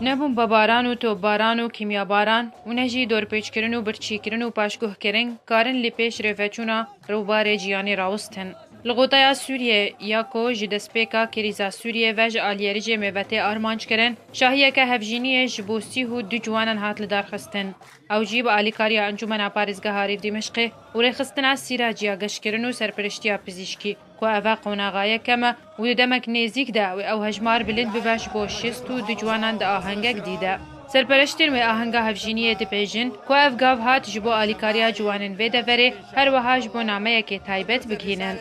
Ne bombebaran û topbaran û kîmyabaran û ne jî dorpêçkirin û birçîkirin û paşguhkirin karin li pêş rêveçûna rûbarê cîyanê rawustin. Li Goteya Sûriyê ya ku ji destpêka krîza Sûriyê ve ji alîyerijê mêvetê armanc kirin, şahiyeke hevjîniyê ji bo sîh û du ciwanan hat lidarxistin. Ew jî bi alîkariya Encûmena Parêzgeha Rîv Dîmişqê û rêxistina Sîraj ya Geşkirin û Serpiriştiya Pizîşkî, Ku eve qonaxaye kem e û di demek nêzîk de wê ew hejmar bilind bibe ji bo şêst û du ciwanan di ahengek dî de. Serpereştên wê ahenga hevjîniyê dibêjin ku ev gav hat ji bo alîkariya ciwanên vê deverê her weha ji bo nameyekê taybet bigihînin.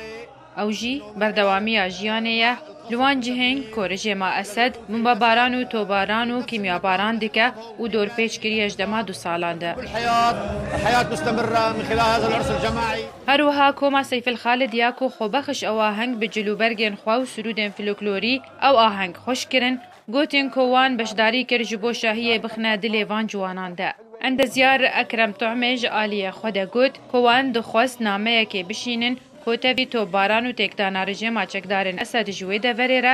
Ew jî berdewamiya jiyanê ye, li wan cihên ku rijê ma Esed bombebaran û topbaran û kîmyabaran dike û dorpêç kiriye ji dema du salan de. Her wiha Koma Seyfil Xalid ya ku xwebexş ew aheng bi cilûbergên xwe û sirûdên floklorî ew aheng xweş kirin, got yên ku wan beşdarî kir ji bo şahiyê bixine dilê van ciwanan de. Endezyar Ekrem Tu'mê ji aliyê xwe de got ku wan dixwest nameyekê bişînin ku tevî topbaran û têkdana rijêma çekdarên Esed ji wê deverê re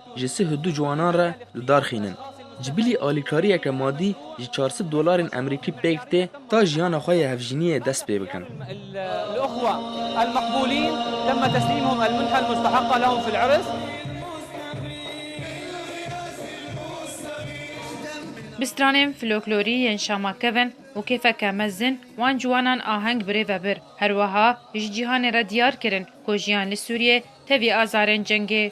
Ji sih du ciwanan re didarxînin. Ji bilî alîkariyeke madî ji çar sed dolarên Emerîkî pêk tê ta jiyana xwe yê hevjîniyê dest pê bikin. Bi stranên floklorî yên Şama kevin û kêfeke mezin wan ciwanan aheng birê ve bir. Her wiha ji cîhanê re diyar kirin ku jiyan li Sûriyê tevî azarên cengê,